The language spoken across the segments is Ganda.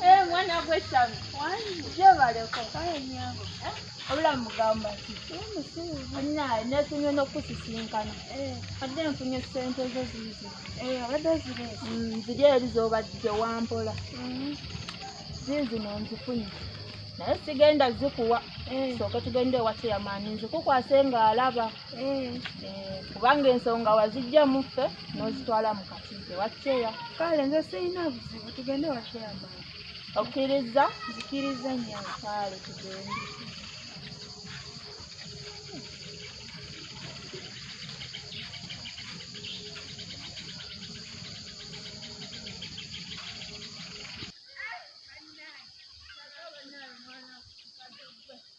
Eh, mwana gwe sami jebaleko kale nyango eh? obula mugamba ti olina nefunye nokusisinkana eh. adde nfunye sente zo ziizi obadde ziri mm, ziri eri zobadde wampola mm-hmm. ziizino nzifunye naye sigenda zikuwa soke tugende ewakiyamaani nzikukwase ng'alaba Eh, kubanga ensonga wazijja muffe n'ozitwala mu katide wakyeya kale nze sirina buzibu tugende wakyeya maa okkirizza nzikirizza nyo kale tugende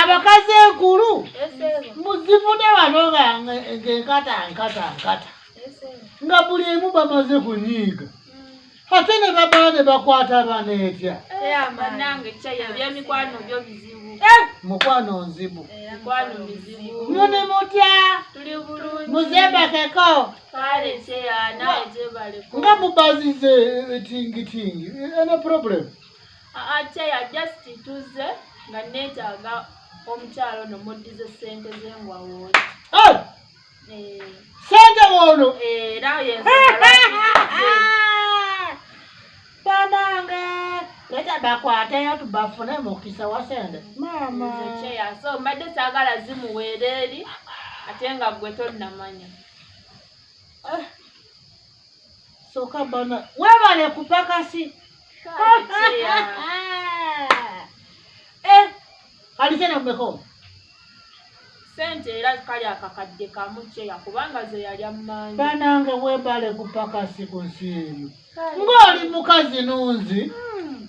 abakazi enkulu muzivune wano ngaenkata nkata nkata nga buli emu bamaze kunyiiga hmm. ate ne babaa ne bakwata bana etya mukwano nzibu mune mutya muzembakeko nga mubazize etingitingi ena problemu ateya just tuzze nga neetaaga omukyalo no muddize sente ze ngwawooli eh! eh. sente woono era banange leta bakwateyo tubafune mukisa wa sente mama so mbadde saagala zimuweera eri ate nga gwe tonnamanya eh. Soka bana. Webale kupakasi. Eh, alizena mmeko. Sente era kali akakadde kamu kyeya kubanga ze yali ammanyi. Banange webale kupakasi ku nsi eyo. Ng'oli mukazi nunzi. Hmm.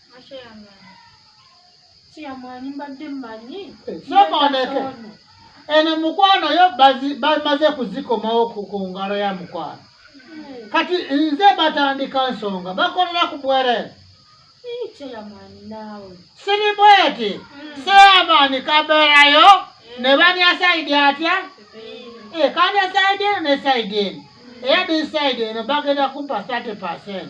kiyamwanyi mbadde mmanyi sooka oleke eno mukwano yo bamaze kuzikomawo ku ngalo ya mukwano hmm. kati nze batandika nsonga bakolera ku bwerere siri bweti hmm. seamaani kabeerayo hmm. ne banya saidi atya eh, kanya saidi eno ne saidi eno eya disaidi eno bagenda kumpa 30 percent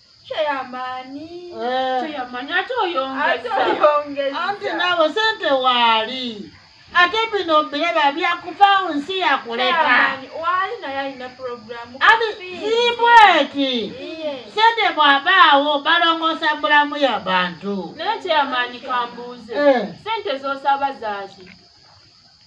anti nabo sente waali ate bino biraba byakuvawo nsi yakuleka zibweti sente bwabaawo balongosa bulamu ya bantu naye kyeyamaanyi kambuuze eh. sente zosaba zaaki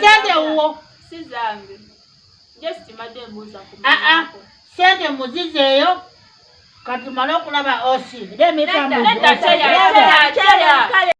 sente wuwo ah, ah. sente muzizeeyo katumale okulaba osi